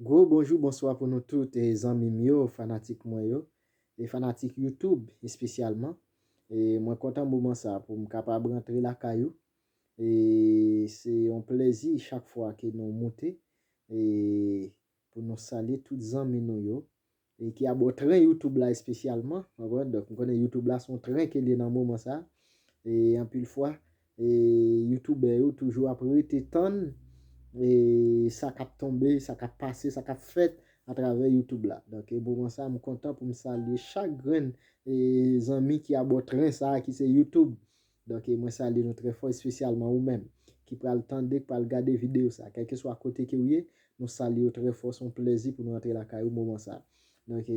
Gwo bonjou bonswa pou nou tout zanmi m yo fanatik mwen yo e fanatik YouTube espesyalman e mwen kontan moman sa pou m kapab rantre lakay ou e se yon plezi chak fwa ke nou moute e pou nou salye tout zanmi nou yo e ki abò tren youtube la espesyalman ou konprann donk m konnen youtube la son tren ke l ye nan moman sa e anpil fwa e youtubè yo toujou ap rete tann e sa k ap tonbe sa k ap pase sa k ap fèt atravè youtube la donk e moman sa m kontan pou m salye chak grenn e zanmi ki abò tren sa ki se youtube Donk mwen salye nou trè fò espesyalman ou menm ki pral tande k pral gade video sa kèlkeswa kote kew ye nou salyew trè fò son plèzi pou nou antre lakay ou moman sa donk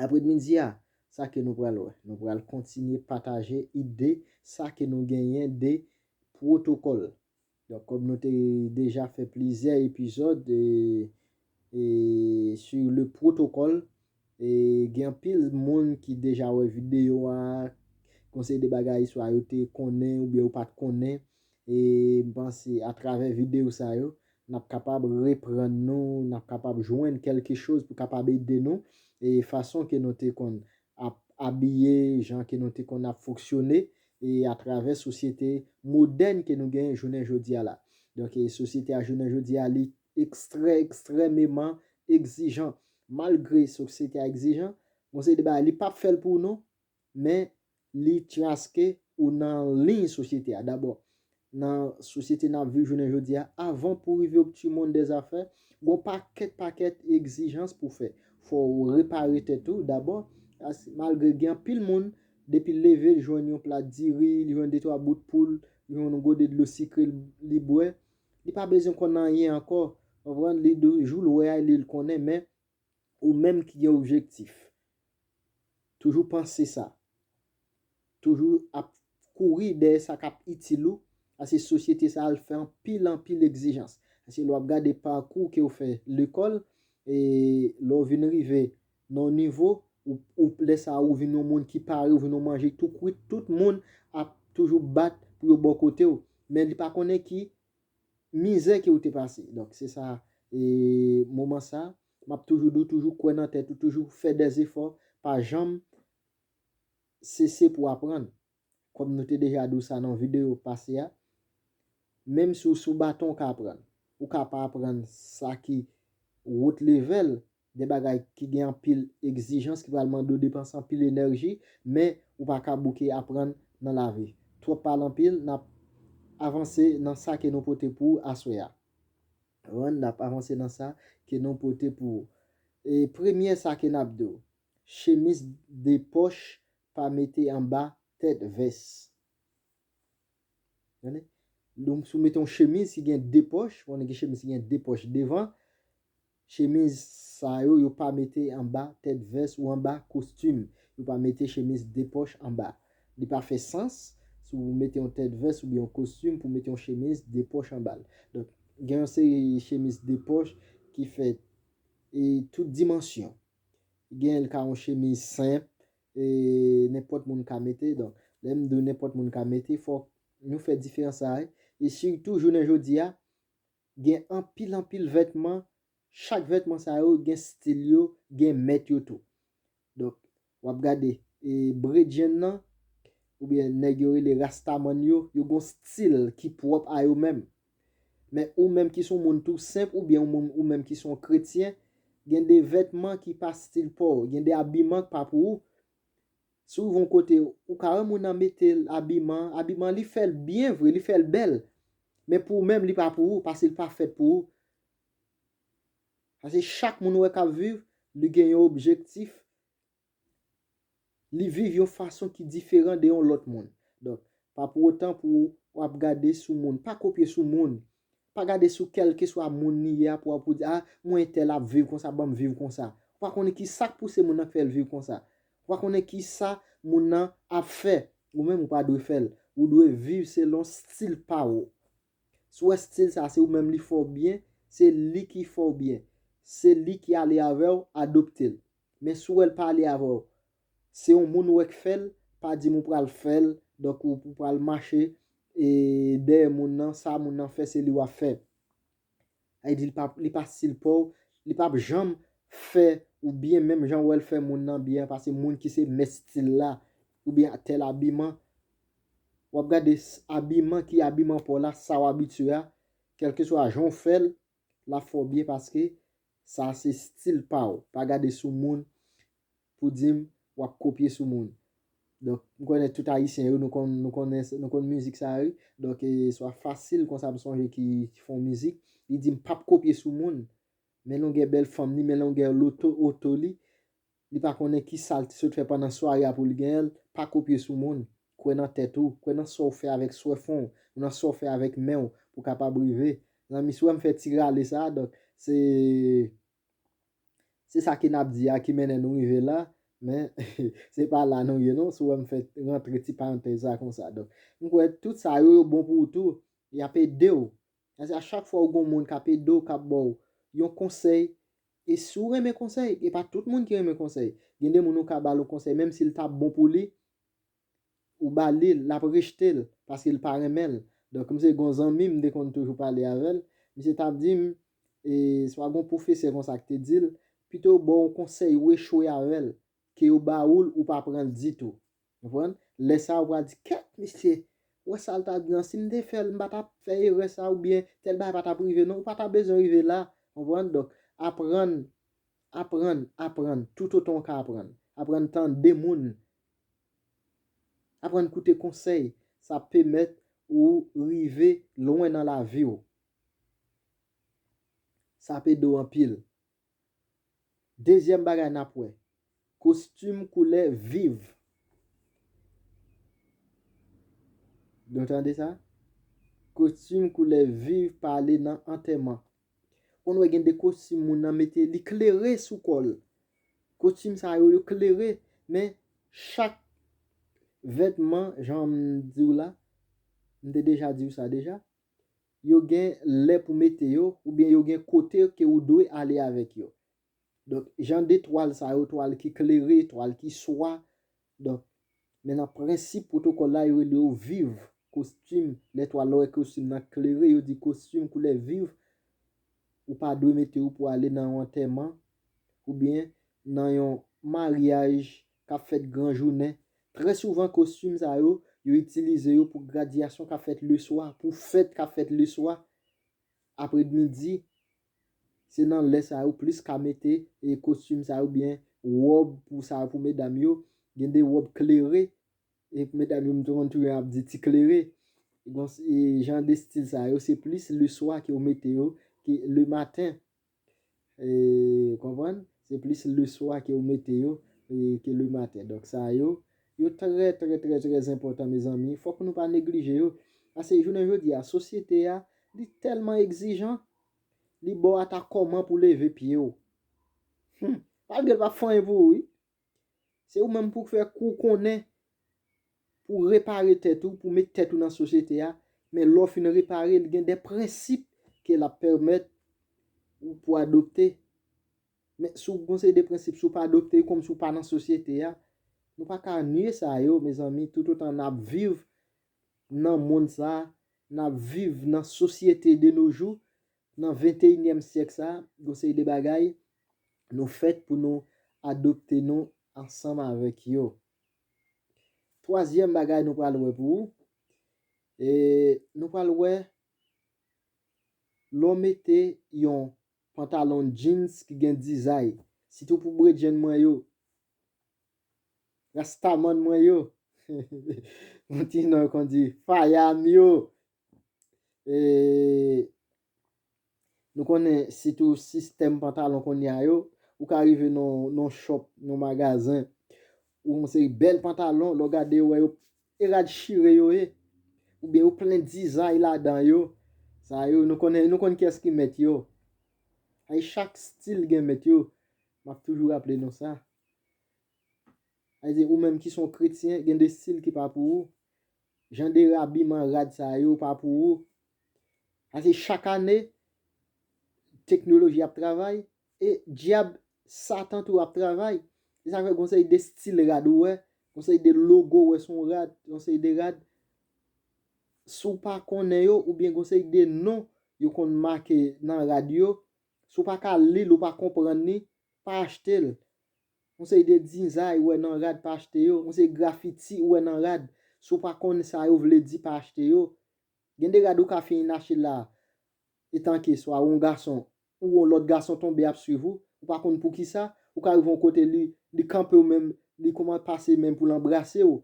aprèdmidi a sa ke nou pral wè nou pral kontinye pataje ide sa ke nou genyen de pwotokòl Donk kòm nou te deja fè plizyè epizòd sur le protocole e gen anpil moun ki deja wè videyo a, gon seri de bagay swa yo te konnen oubyen yo pat konnen e m panse atravè videyo sa yo n ap kapab reprann nou, n ap kapab jwenn kèlke choz pou kapab ede nou e fason ke nou te konn ap abiye, jan ke nou te konn ap foksyone e atravè sosyete modèn ke nou genyen jounen jodi a la. Donk e sosyete a jounen jodi a li ekstrè ekstrèmeman ekzijan. Malgre sosyete a ekzijan, gon seri de bagay li pap fè l pou w non, men li traske ou nan liy sosyete a. Dabò, Nan sosyete n ap viv jounen jodi a, avan pou rive ob tu mond dè zafè, gon pakèt pakèt egzijans pou fè. Fò ou repare tèt ou dabò, as malgre gen anpil moun, depi l leve l jwenn yon plat diri, li jwenn detwa bout poul, li jwenn yon gode dlo sikre l li bwè, li pa bezwen konn anyen ankò, konprann, li di w jou l wè a li l konnen men Ou menm ki gen objektif, toujou panse sa. Toujou ap kouri dèyè sa k ap itil ou, paske sosyete sa a l fè anpil anpil egzijans. Paske lè w ap gade pakou ke w fè lekòl, e lè w vin rive nan yon nivo, ou, lè sa a ou vin yon moun ki pare, ou vin yon manje tou kwit, tout moun ap toujou bat pou yo bò kote w. Men li pa konnen ki Mizè ke ou te pase. Donk se sa e moman sa map toujou di w toujou kwè nan tèt ou toujou fè dè zefò pa janm sese pou aprann kòm nou te deja di w sa nan video pase a menm si w sou baton ou ka aprann ou ka pa aprann sa ki wout levèl De bagay ki gen anpil egzijans ki pral mande w depanse anpil enèji men ou pa ka bouke aprann nan lavi. Twòp pale anpil, n ap avanse nan sa ke nou pote pou ou aswè a. Ren, N ap avanse nan sa ke nou pote pou ou. E premye sa ke n ap di w, chemiz de pòch pa mete anba tèt vès. Tande? Donk si w mete yon chemiz ki gen 2 pòch, ou konnen gen chemiz ki gen 2 pòch devan, chemiz sa yo, yo pa mete anba tèt vès ou anba kostim. Yo pa mete chemiz 2 pòch anba. Li pa fè sans si w mete yon tèt vès oubyen yon kostim pou w mete yon chemiz 2 pòch anba l. Donk, gen yon seri chemiz 2 pòch ki fèt e tout dimansyon. Gen l ka yon chemiz senp, E nenpòt moun ka mete, donk lè m di w nenpòt moun ka mete fòk nou fè diferans sa a. E sitou jounen jodi a gen anpil anpil vètman, chak vètman sa yo gen stil yo, gen mèt yo tou. Donk w ap gade e bredjenn nan oubyen nèg yo rele rastamann yo, yo gen yon stil ki pwòp a yo menm. Men ou menm ki son moun tou senp oubyen ou moun ou menm ki son kretyen, gen de vètman ki pa stil paw, gen de abiman k pa pou ou. Si w rive yon kote, ou ka wè moun nan mete abiman, abiman li fè l byen vre, li fè l bèl, men pou ou menm li pa pou ou, paske li pa fèt pou ou. Paske chak moun ou wè k ap viv, li gen yon objektif. Li viv yon fason ki diferan de yon lòt moun. Donk, pa pou otan pou w ap gade sou moun. Pa kopye sou moun. Pa gade sou kèlkeswa moun li ye a pou w di, a, m wè entèl ap viv konsa, ban m viv konsa. Ou pa konnen ki sa k pouse moun nan k fè l viv konsa. Ou pa konnen ki sa moun nan ap fè. Ou menm ou pa dwe fè l. Ou dwe viv selon stil pa ou. Si w wè stil sa se ou menm li fè w byen, se li ki fè w byen. Se li ki ale avè w, adopte l. Men si w wè l pa ale avè w, se yon moun ou wè k fè l, pa di m ou pral fè l, donk ou pral mache dèyè moun nan, sa moun nan fè se li w ap fè. Li di li pa stil paw, li pap janm fè ou byen menm jan wèl fè moun nan byen an pase moun ki se mèt stil la oubyen tèl abiman wap gade abiman ki abiman paw la sa ou abitye a kèlkeswa jan ou fèl lap fè ou byen paske sa se stil paw pa gade sou moun pou dim wap kopye sou moun donk m konnen tout ayisyen yo nou konn nou konnen nou konn mizik sa wi donk e swa fasil konsa m sonje ki fon mizik li dim pap kopye sou moun men longè bèl fanm li men longè loto oto li li pa konnen kisal t sot fè pandan sware a pou l genyenl pa kopye sou moun kwè nan tèt ou kwè nan sa w fè avèk swè fon w nan sa w fè avèk men w pou kapab rive zanmi si w wè m fè ti rale sa donk se. Se sa ke nap di a ki mennen nou rive la, men se pa la nou ye non, si w wè m fè rantre ti parantèz sa konsa. Donk, m kwè tout sa yo, yo bon pou ou tou, y ap ede w. Paske a chak fwa ou gen yon moun k ap ede w, k ap ba w yon konsèy, e si w renmen konsèy, e pa tout moun ki renmen konsèy, gen de moun ou ka ba l yon konsèy, menm si l ta bon pou li, ou ba lil lap rejtel paskel pa renmenl donk m se gon zanmi m te konn toujou pale avèl misye tap dim e swa gon pwofesè konsa ki te dil pito yo baw yon konsèy ou echwe avèl ke yo ba oul ou pa pranl ditou konprann lè sa ou pral di kèt misye wè sal ta di an sim te fèl m patap fè erè sa oubyen tèl bagay patap rive non ou patap bezwen rive la konprann donk aprann aprann aprann toutotan ou ka aprann aprann tande moun Aprann koute konsèy, sa ap pemèt ou rive lwen nan lavi w. Sa ap ede w anpil. Dezyèm bagay n ap wè, kostim koulè viv. Nou tande sa? Kostim koulè viv pale nan antèman. Ou konn wè gen de kostim moun nan mete li klere sou kò l. Kostim sa yo, yo klere, men chak vètman jan m di w la, m te deja di w sa deja, yo gen lè pou mete yo oubyen yo gen kote ke ou dwe ale avèk yo. Donk jan de twal sa yo, twal ki klere, twal ki swa, Donk, men nan prensip pwotokòl la, yo rele yo viv, kostim, lè twal lò wè kostim nan klere, yo di kostim koulè viv, ou pa dwe mete yo pou ale nan yon antèman, oubyen nan yon maryaj k ap fèt gran jounen. Trè souvan kostim sa yo, yo itilize yo pou gradyasyon k ap fèt leswa, pou fèt k ap fèt leswa, aprèdmidi. Se nan lè sa yo plis ka mete kostim sa yo oubyen wòb pou sa yo pou medam yo. Gen de wòb klere, e pou medam yo m konn tou ap di ti klere. Bon e jan de stil sa yo se plis leswa ke yo mete yo ke lematen. E konprann? Se plis leswa ke yo mete yo ke lematen. Donk sa yo. Yo trè trè trè trè zenpòtan mezanmi fòk nou pa neglije yo pase jounen jodi a sosyete a li tèlman egzijan li baw ata kòman pou leve pye w humm malgre l pap fè anyen pou ou wi se ou menm pou fè kou w konnen pou w repare tèt ou pou w met tèt ou nan sosyete a men lè w fin repare l gen de prensip ke lap pèmèt ou pou adopte. Men, si w gen yon seri de prensip, si w pa adopte yo, kòmsi w pa nan sosyete a, nou pa ka nye sa yo, mezanmi, toutotan n ap viv nan monn sa a, n ap viv nan sosyete de no jou, nan venteyinyèm syèk sa a, gen yon seri de bagay nou fèt pou nou adopte nou ansanm avèk yo. Twazyèm bagay nou pral wè pou ou, e, nou pral wè lè w mete yon Pantalon jeans ki gen dizay. Sitou pou bredjenn mwen yo. Rastaman mwen yo. Yon ti non kon di. Faya m yo. E Nou konnen sitou sistèm pantalon kounye a yo. Ou ka rive nan yon shop, nan yon magazen. Ou yon seri bèl pantalon lè w gade yo wè yo e rad chire yo ye oubyen yo plen dizay ladan yo sa yo nou konnen nou konn kiyès ki mèt yo ayy chak stil gen mèt yo m ap toujou raple nou sa ayy ou menm ki s on kretyen gen de stil ki pa pou ou jan de abiman rad sa yo pa pou ou ayy chak ane teknoloji ap travay E dyab satan tou ap travay. Se sa k fè gon seri de stil rad ou wè, gon seri de logo ou wè sou yon rad, yon seri de rad, si w pa konnen yo oubyen gon seri de non yo konn make nan rad yo, si w pa ka li l, ou pa konprann li, pa achte l. Yon seri de dizay ou wè nan rad, pa achte yo. Yon seri grafiti ou wè nan rad, si w pa konn sa yo vle di, pa achte yo. Gen de rad ou ka fini nache la etanke swa ou on gason ou on lòt gason tonbe ap swiv ou, ou pa konn poukisa, ou ka rive on kote li li kanpe ou menm li kouman pase men pou l anbrase ou,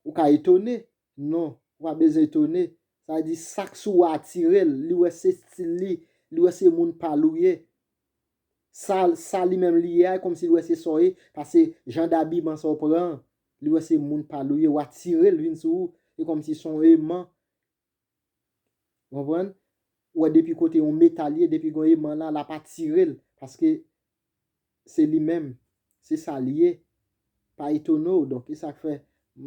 ou ka etone, non ou pa bezwen etone, sa vle di sak sou ou a atire l, li wè se stil li, li wè se moun pa l ou ye. Sal sa li menm li ye a komsi li wè se saw ye pase jan dabiman sa w pran an li wè se moun pal ou ye wa tirel vin sou ou e komsi son eman ou konprann ou wè depi kote yon metal ye depi gon eman la lap atirel paske se li menm se sal ye pa etone w donk esak fè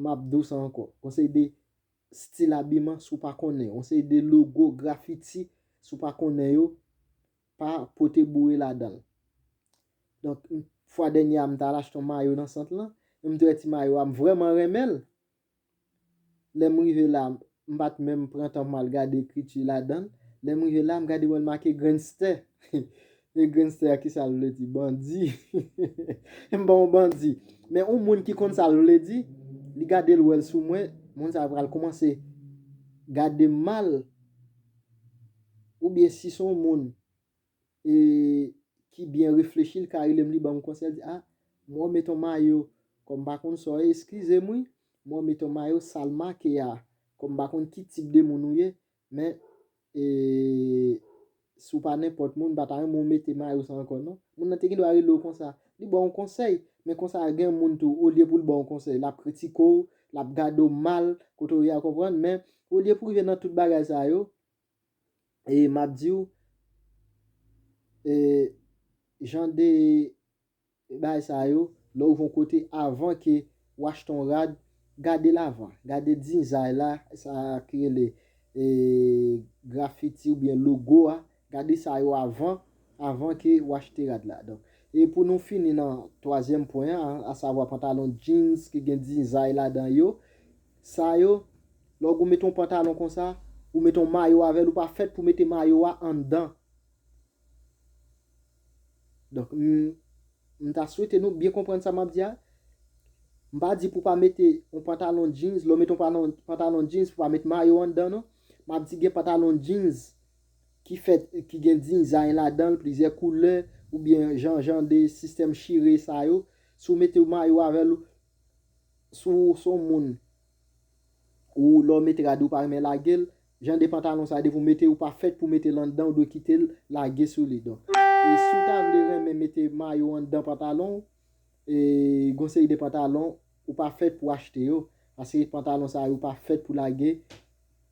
map diw sa ankò gon seri de stil abiman si w pa konnen gon seri de logo grafiti si w pa konnen yo pa pote boure ladan l. Donk, fwa dènye a m t al achte yon mayo nan sant lan, m t wè ti mayo a, m vrèman renmen l. Lè m rive la, m pa t menm pran tan pou m al gade ekriti ladan l. Lè m rive la, m gade wè l make Grenstè. E Grenstè a, ki sa l vle di? Bandi. M ba w yon bandi. Men yon moun ki konn sa l vle di, li gade l wè l sou mwen, moun sa a pral koumanse gade m mal. oubyen si son moun e ki byen reflechi li ka relem li banm konsèy li di ah m wè w met on mayo kòm m pa konn sa w ye eskizem wi m wè w met on mayo sal make a kòm m pa konn ki tip de moun ou ye men e si w pa nenpòt moun m pa ta renmen w mete mayo sa ankò non moun nan te gen dwa rele w konsa li ba w on konsèy men konsa gen moun tou olye pou l ba w on konsèy lap kritike w lap gade w mal kote w ye a konprann men olye pou rive nan tout bagay sa yo e map diw e jan de bagay sa yo lè ou von kote avan ke ou achte yon rad gadel avan gade dizay la sa ki rele e grafiti oubyen logo a gade sa yo avan avan ke ou achte rad la donk e pou nou fini nan twazyèm pwen an asavwa pantalon jeans ki gen dizay ladan yo. Sa yo, lè w gou mete yon pantalon konsa, ou mete yon mayo avè l, ou pa fèt pou mete mayo a anndan. Donk, m m ta swete nou byen konprann sa m ap di a. M pa di pou pa mete yon pantalon jeans, lè w mete yon palon pantalon jeans pou pa mete mayo anndan non. M ap di gen pantalon jeans ki fèt, ki gen dizay ladan l, plizyè koulè, oubyen jan jan de sistèm chire sa yo. Si w mete yon mayo avè l, Si w se yon moun ou lè w mete rad ou pa renmen lage l, jan de pantalon sa depi w mete l ou pa fèt pou w mete l anndan ou dwe kite l lage sou li donk si w ta vle renmen mete mayo anndan pantalon w gon seri de pantalon ou pa fèt pou w achte yo paske pantalon sa yo pa fèt pou lage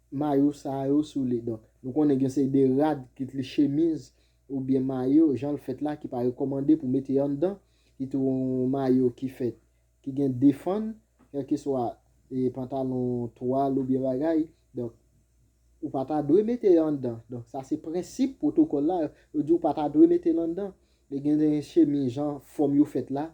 mayo sa yo sou li donk nou konnen gen yon seri de rad kit li chemiz oubyen mayo jan l fèt la ki pa rekòmande pou mete anndan, ki tou yon mayo ki fèt ki gen de fann, kèlkeswa e pantalon, twal oubyen bagay, donk ou pa ta dwe mete yo anndan, donk sa se prensip pwotokòl la, yo di ou pa ta dwe mete l anndan, e gen de chemiz jan fòm yo fèt la,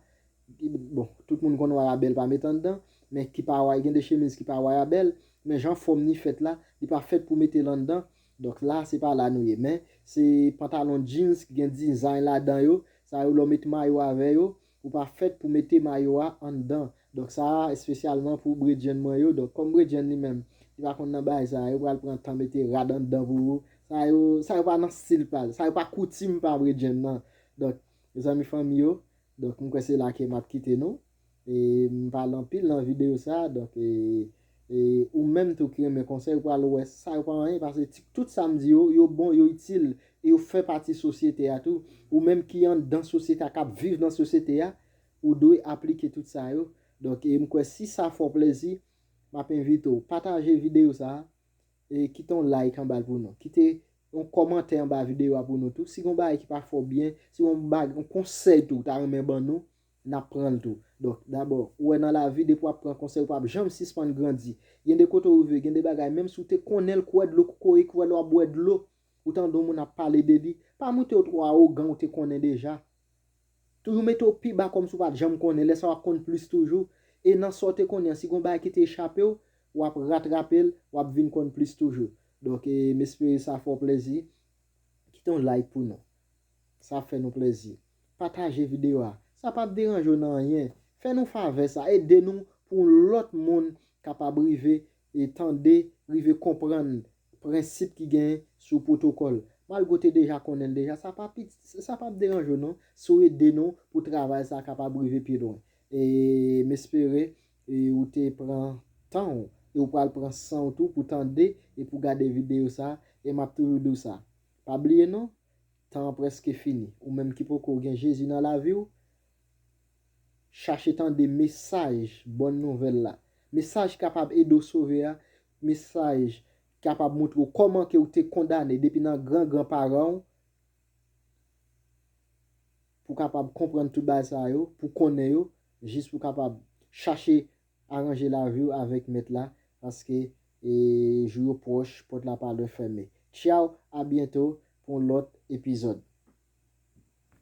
bon tout moun konn wayabèl pa met anndan, men ki pa way gen de chemiz ki pa wayabèl, men jan fòm ni fèt la, li pa fèt pou mete l anndan. Donk la se pa la nou ye men se pantalon jeans ki gen dizay ladan yo, sa yo lè w met mayo avè yo, ou pa fèt pou mete mayo a anndan. Donk sa a espesyalman pou bredjenn mwen yo, donk kòm bredjenn li menm li pa konn nan bagay sa a, yo pral pran tan mete rad anndan pou ou, sa yo sa yo pa nan stil pa l, sa yo pa koutim pa bredjenn nan. Donk mezanmi fanmi yo, donk m kwè se la ke m ap kite nou. M pale anpil nan video sa donk ou menm tou ki renmen konsèy ou pral wè sa yo pa anyen pase tout sa m di yo yo bon yo itil e yo fè pati sosyete a tou ou menm ki anndan sosyete a kap viv nan sosyete a ou dwe aplike tout sa yo donk m kwè si sa fè w plezi m ap envite w pataje video sa e kite yon like anba l pou nou kite yon kòmantè anba video a pou nou tou si gon bagay ki pa fè w byen si gon bagay yon konsèy tou ou ta renmen ban nou. N ap pran l tou. Donk, dabò, ou wè nan lavi, depi w ap pran konsèy, ou pa p janm sispann grandi. Gen de kote ou rive, gen de bagay, menm si ou te konnen l, kouwè dlo kokoye, kouwè lè w ap bwè dlo, ou tande yon moun ap pale de li, pa moute w twò awogan ou te konnen deja. Toujou mete w pi ba kòm si ou pa t janm konnen, lè sa w ap konn plis toujou. E nan sa w te konnen an, si gen yon bagay ki te echape w, w ap ratrape l, w ap vin konn plis toujou. Donk, e m espere sa fè w plezi. Kite yon like pou nou. Sa fè nou plèzi. Pataje videyo a. Sa pap deranje w nan anyen. Fè nou favè sa. Ede nou pou lòt moun kapab rive tande, rive konprann prensip ki gen sou pwotokòl. Malgre w te deja konnen l deja, sa pa piti, sa pap deranje w non si w ede nou pou travay sa a kapab rive pi lwen. E m espere ou te pran tan w e ou pral pran san w tou pou tande e pou gade videyo sa a. E m ap toujou di w sa, pa bliye non, Tan an preske fini. Ou menm ki poko gen Jezi nan laviw, chache tande mesaj bòn nouvèl la. Mesaj ki kapab ede w sove a, mesaj ki kapab moutre w kòman ke ou te kondane depi nan gran gran paran w, pou kapab konprann tout bagay sa yo, pou konnen yo, jis pou kapab chache Aranje lavi w avèk Mèt la, paske jou yo pwòch, pòt la pa lwen fèmen. Tchaw, a byento pou yon lòt epizòd.